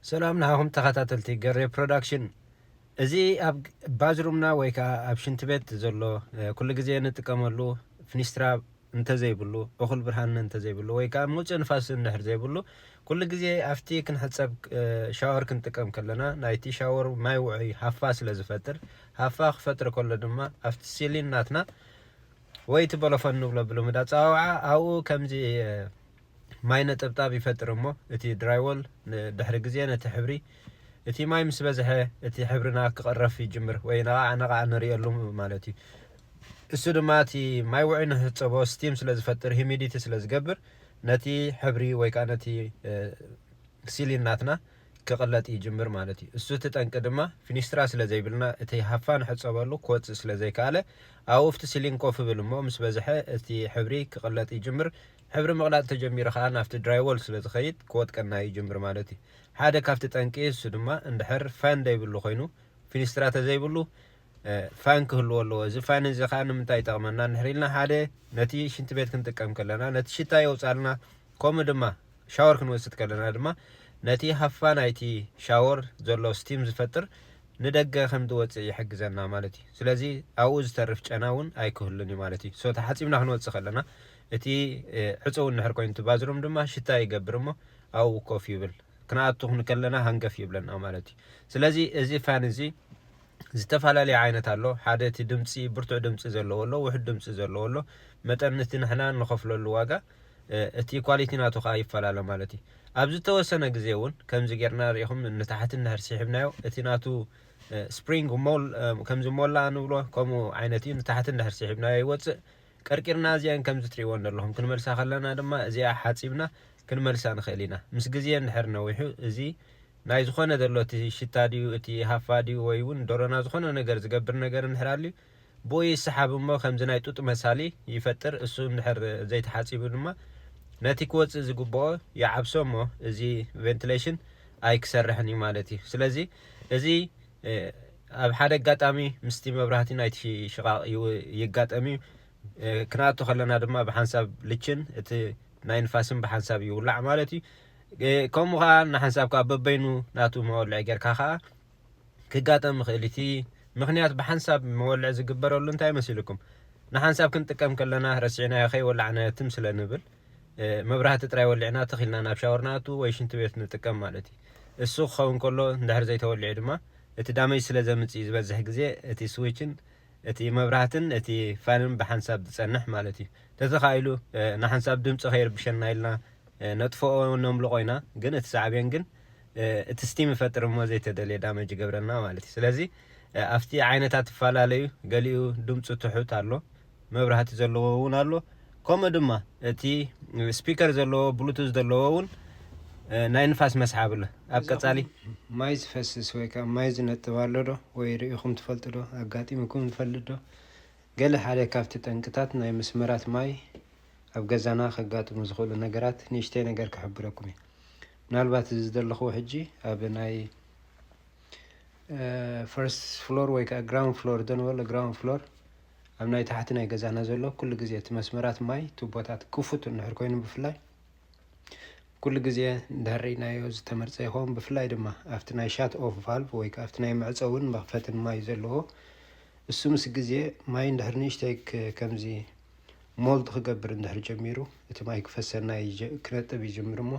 ሰላም ንዓኹም ተኻታተልቲ ገሬ ፕሮዳክሽን እዚ ኣብ ባዝሩምና ወይ ከኣ ኣብ ሽንቲ ቤት ዘሎ ኩሉ ግዜ ንጥቀመሉ ፍኒስትራ እንተዘይብሉ እኹል ብርሃን እንተዘይብሉ ወይ ከኣ ምውጽእ ንፋስ እንድሕር ዘይብሉ ኩሉ ግዜ ኣብቲ ክንሕጸብ ሻወር ክንጥቀም ከለና ናይቲ ሻወር ማይ ውዑይ ሃፋ ስለ ዝፈጥር ሃፋ ክፈጥር ከሎ ድማ ኣብቲ ሲሊን ናትና ወይ እቲ በሎፎን ንብሎ ብልሙድ ኣጸዋውዓ ኣብኡ ከምዚ ማይ ነጠብጣብ ይፈጥር እሞ እቲ ድራይዎል ንድሕሪ ግዜ ነቲ ሕብሪ እቲ ማይ ምስ በዝሐ እቲ ሕብርና ክቕረፍ ይጅምር ወይ ነቓዕ ነቓዕ ንርእየሉ ማለት እዩ። እሱ ድማ እቲ ማይ ውዑይ ንህጸቦ ስቲም ስለ ዝፈጥር ሂሚዲቲ ስለ ዝገብር ነቲ ሕብሪ ወይ ከኣ ነቲ ሲሊን ናትና ክቕለጥ ይጅምር ማለት እዩ። እሱ እቲ ጠንቂ ድማ ፊኒስትራ ስለ ዘይብልና እቲ ሃፋ ንሕጸበሉ ክወጽእ ስለ ዘይከኣለ ኣብኡ ኣብቲ ሲሊን ኮፍ እብል እሞ ምስ በዝሐ እቲ ሕብሪ ክቕለጥ ይጅምር ሕብሪ ምቕላጥ ተጀሚሩ ከኣ ናብቲ ድራይዎል ስለ ዝኸይድ ክወድቀና ይጅምር ማለት እዩ። ሓደ ካብቲ ጠንቂ እሱ ድማ እንድሕር ፋን ዘይብሉ ኮይኑ ፊኒስትራ ተዘይብሉ ፋን ክህልዎ ኣለዎ። እዚ ፋን እዚ ከኣ ንምንታይ ይጠቕመና እንድሕር ኢልና ሓደ ነቲ ሽንቲ ቤት ክንጥቀም ከለና ነቲ ሽታ የውጻልና ከምኡ ድማ ሻወር ክንወስድ ከለና ድማ ነቲ ሃፋ ናይቲ ሻወር ዘሎ ስቲም ዝፈጥር ንደገ ከም ዝወጽእ ይሕግዘና ማለት እዩ። ስለዚ ኣብኡ ዝተርፍ ጨና እውን ኣይክህሉን እዩ ማለት እዩ። ሶ ተሓጺብና ክንወጽእ ከለና እቲ ዕጹው እንድሕር ኮይኑ እቲ ባዝሩም ድማ ሽታ ይገብር እሞ ኣብኡ ኮፍ ይብል። ክንኣቱ ክንከለና ሃንገፍ ይብለና ማለት እዩ። ስለዚ እዚ ፋን እዚ ዝተፈላለየ ዓይነት ኣሎ። ሓደ እቲ ድምጺ ብርቱዕ ድምጺ ዘለዎ ኣሎ፣ ውሑድ ድምጺ ዘለዎ ኣሎ። መጠን እቲ ንሕና ንኸፍለሉ ዋጋ እቲ ኳሊቲ ናቱ ከኣ ይፈላለ ማለት እዩ። ኣብ ዝተወሰነ ግዜ እውን ከምዚ ጌርና ርኢኹም ንታሕቲ እንድሕር ሲሒብናዮ እቲ ናቱ ስፕሪንግ ሞል ከምዚ ሞላ ንብሎ ከምኡ ዓይነት እዩ ንታሕቲ እንድሕር ሲሒብናዮ ይወጽእ ቀርቂርና እዚኣን ከምዚ ትርእይወን ዘለኹም ክንመልሳ ከለና ድማ እዚኣ ሓጺብና ክንመልሳ ንኽእል ኢና። ምስ ግዜ እንድሕር ነዊሑ እዚ ናይ ዝኾነ ዘሎ እቲ ሽታ ድዩ እቲ ሃፋ ድዩ ወይ ውን ደሮና ዝኾነ ነገር ዝገብር ነገር እንድሕር ኣልዩ ብኡ ይሰሓብ እሞ ከምዚ ናይ ጡጥ መሳሊ ይፈጥር እሱ እንድሕር ዘይተሓጺቡ ድማ ነቲ ክወጽእ ዝግብኦ ይዓብሶ እሞ እዚ ቨንትለሽን ኣይክሰርሕን እዩ ማለት እዩ። ስለዚ እዚ ኣብ ሓደ ኣጋጣሚ ምስቲ መብራህቲ ናይቲ ሽቓቕ ይጋጠም እዩ። ክንኣቱ ከለና ድማ ብሓንሳብ ልችን እቲ ናይ ንፋስን ብሓንሳብ ይውላዕ ማለት እዩ። ከምኡ ከኣ ንሓንሳብ ከኣ በበይኑ ናቱ መወልዒ ጌርካ ከኣ ክጋጠም ይኽእል እቲ ምኽንያት ብሓንሳብ መወልዒ ዝግበረሉ እንታይ መሲልኩም ንሓንሳብ ክንጥቀም ከለና ረሲዕናዮ ከይወላዕናዮ ትም ስለ ንብል መብራህቲ ጥራይ ወሊዕና ትኽ ኢልና ናብ ሻወር ንኣቱ ወይ ሽንቲ ቤት ንጥቀም ማለት እዩ። እሱ ክኸውን ከሎ እንድሕር ዘይተወሊዑ ድማ እቲ ዳመጅ ስለ ዘምጽእ እዩ ዝበዝሕ ግዜ እቲ ስዊችን እቲ መብራህትን እቲ ፋንን ብሓንሳብ ዝጸንሕ ማለት እዩ። ተተኻኢሉ ንሓንሳብ ድምጺ ከይርብሸና ኢልና ነጥፍኦ ነምልቆ ኢና ግን እቲ ሳዕቤን ግን እቲ ስቲም ይፈጥር እሞ ዘይተደልየ ዳመጅ ይገብረልና ማለት እዩ። ስለዚ ኣብቲ ዓይነታት ይፈላለዩ ገሊኡ ድምጹ ትሑት ኣሎ። መብራህቲ ዘለዎ እውን ኣሎ ከምኡ ድማ እቲ ስፒከር ዘለዎ ብሉቱዝ ዘለዎ እውን ናይ ንፋስ መስሓብ ኣሎ ኣብ ቀጻሊ ማይ ዝፈስስ ወይ ከዓ ማይ ዝነጥብ ኣሎ ዶ ወይ ርኢኹም ትፈልጡ ዶ ኣጋጢሙኩም ዝፈልጥ ዶ ገለ ሓደ ካብቲ ጠንቅታት ናይ መስመራት ማይ ኣብ ገዛና ከጋጥሙ ዝኽእሉ ነገራት ንእሽተይ ነገር ክሕብረኩም እዩ ምናልባት እዚ ዘለኹዎ ሕጂ ኣብ ናይ ፈርስት ፍሎር ወይ ከዓ ግራውንድ ፍሎር ዶ ንበሎ ግራውንድ ፍሎር ኣብ ናይ ታሕቲ ናይ ገዛና ዘሎ ኩሉ ግዜ እቲ መስመራት ማይ ቱቦታት ክፉት እንድሕር ኮይኑ ብፍላይ ኩሉ ግዜ እንድሕር ርኢናዮ ዝተመርጸ ይኸውን ብፍላይ ድማ ኣብቲ ናይ ሻት ኦፍ ቫልቭ ወይ ከዓ ኣብቲ ናይ መዕፀውን መኽፈትን ማይ ዘለዎ እሱ ምስ ግዜ ማይ እንድሕር ንእሽተይ ከምዚ ሞልድ ክገብር እንድሕር ጀሚሩ እቲ ማይ ክፈሰና ክነጥብ ይጅምር እሞ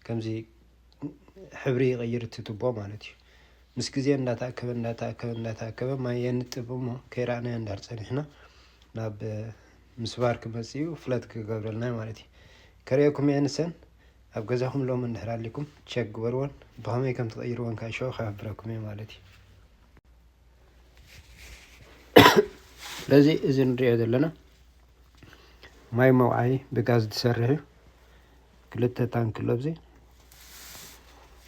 ከምዚ ሕብሪ ይቕይር እቲ ቱቦ ማለት እዩ ምስ ግዜ እንዳተኣከበ እንዳተኣከበ እንዳተኣከበ ማይ የንጥብ እሞ ከይረኣናዮ እንድሕር ጸኒሕና ናብ ምስባር ክመጽእ እዩ ፍለት ክገብረልና ማለት እዩ ከርእየኩም እየ ንሰን ኣብ ገዛኹም ሎሚ እንድሕር ኣሊኩም ቸክ ግበርዎን ብኸመይ ከም ትቐይርዎን ካኣ ሸው ክሕብረኩም እየ ማለት እዩ ስለዚ እዚ ንሪኦ ዘለና ማይ መውዓዪ ብጋዝ ዝሰርሕ እዩ ክልተ ታንኪ ለብዚ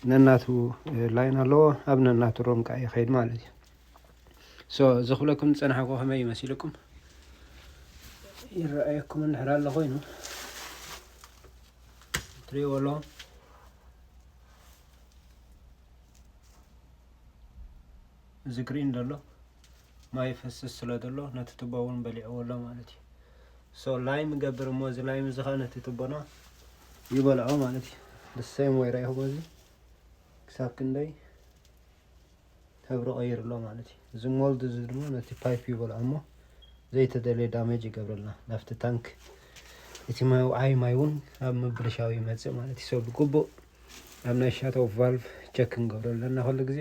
ነናቱ ላይን ኣለዎ ኣብ ነናቱ ሮም ከዓ ይኸይድ ማለት እዩ ሶ እዚ ክብለኩም ዝፀናሕኩ ከመይ እዩ መሲልኩም ይረኣየኩም እንድሕር ኣሎ ኮይኑ ትሪእዎ ኣለኹም እዚ ግሪን ዘሎ ማይ ይፈስስ ስለ ዘሎ ነቲ ትቦ እውን በሊዕዎ ኣሎ ማለት እዩ ሶ ላይም ይገብር እሞ እዚ ላይም እዚ ከዓ ነቲ ትቦና ይበልዖ ማለት እዩ ብሰም ወይ ረኢኹሞ እዚ ክሳብ ክንደይ ሕብሪ ቀይሩ ኣሎ ማለት እዩ እዚ ሞልድ እዚ ድማ ነቲ ፓይፕ ይበልዖ እሞ ዘይተደለየ ዳሜጅ ይገብረልና ናብቲ ታንክ እቲ መውዓይ ማይ እውን ኣብ ምብልሻው ይመፅእ ማለት እዩ ሰ ብግቡእ ኣብ ናይ ሻቶ ቫልቭ ቸክ ክንገብረ ኣለና ኩሉ ግዜ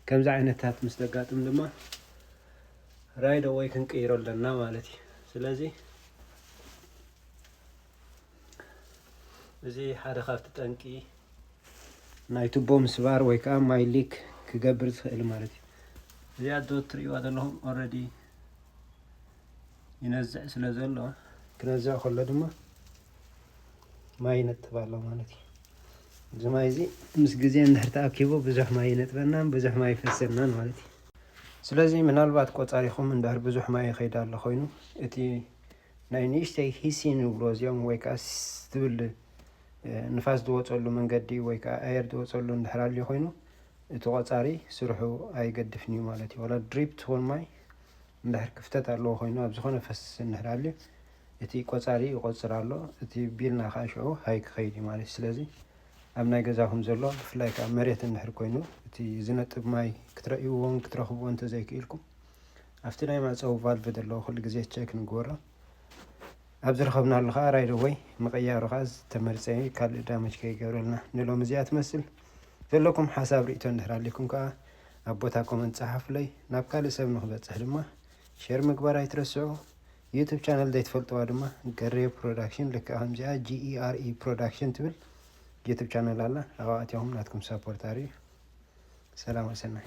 ከምዚ ዓይነታት ምስ ዘጋጥም ድማ ራይድ ኣወይ ክንቅይሮ ኣለና ማለት እዩ ስለዚ እዚ ሓደ ካብቲ ጠንቂ ናይ ቱቦ ምስባር ወይ ከዓ ማይ ሊክ ክገብር ዝኽእል ማለት እዩ እዚኣ ዶ ትርእይዋ ዘለኹም ኦልሬዲ ይነዝዕ ስለ ዘሎ ክነዝዕ ከሎ ድማ ማይ ይነጥብ ኣሎ ማለት እዩ። እዚ ማይ እዚ ምስ ግዜ እንድሕር ተኣኪቡ ብዙሕ ማይ ይነጥበናን ብዙሕ ማይ ይፈሰናን ማለት እዩ። ስለዚ ምናልባት ቆፃሪኹም እንድሕር ብዙሕ ማይ ይኸይድ ኣሎ ኮይኑ እቲ ናይ ንእሽተይ ሂሲን ይብሎ እዚኦም ወይ ከዓ ዝብል ንፋስ ዝወፀሉ መንገዲ ወይ ከዓ ኣየር ዝወፀሉ እንድሕር ኣልዩ ኮይኑ እቲ ቆፃሪ ስርሑ ኣይገድፍን እዩ ማለት እዩ። ወላ ድሪፕ ትኹን ማይ እንድሕር ክፍተት ኣለዎ ኮይኑ ኣብ ዝኾነ ፈስሲ እንድሕር ኣልዩ እቲ ቆጻሪ ይቆጽር ኣሎ እቲ ቢልና ከኣ ሽዑ ሃይ ክኸይድ እዩ ማለት እዩ ስለዚ ኣብ ናይ ገዛኹም ዘሎ ብፍላይ ከኣ መሬት እንድሕር ኮይኑ እቲ ዝነጥብ ማይ ክትረእይዎን ክትረኽብዎ እንተዘይክኢልኩም ኣብቲ ናይ መዕጸዊ ቫልቭ ዘለዎ ኩሉ ግዜ ቸክ ንግበሮ ኣብ ዝረኸብናሉ ከኣ ራይድ ወይ ምቕያሩ ከኣ ዝተመርጸ እዩ ካልእ ዳመጅ ከይገብረልና ንሎሚ እዚኣ ትመስል ዘለኩም ሓሳብ ርእቶ እንድሕር ኣሊኩም ከኣ ኣብ ቦታ ኮመንት ጸሓፉለይ ናብ ካልእ ሰብ ንክበጽሕ ድማ ሼር ምግባር ኣይትረስዑ ዩቱብ ቻነል ዘይትፈልጥዋ ድማ ገሬ ፕሮዳክሽን ልክዕ ከምዚኣ GERE ፕሮዳክሽን ትብል ዩቱብ ቻነል ኣላ ኣብኣ ኣትኹም ናትኩም ሳፖርት ኣርእዩ ሰላም ወሰናይ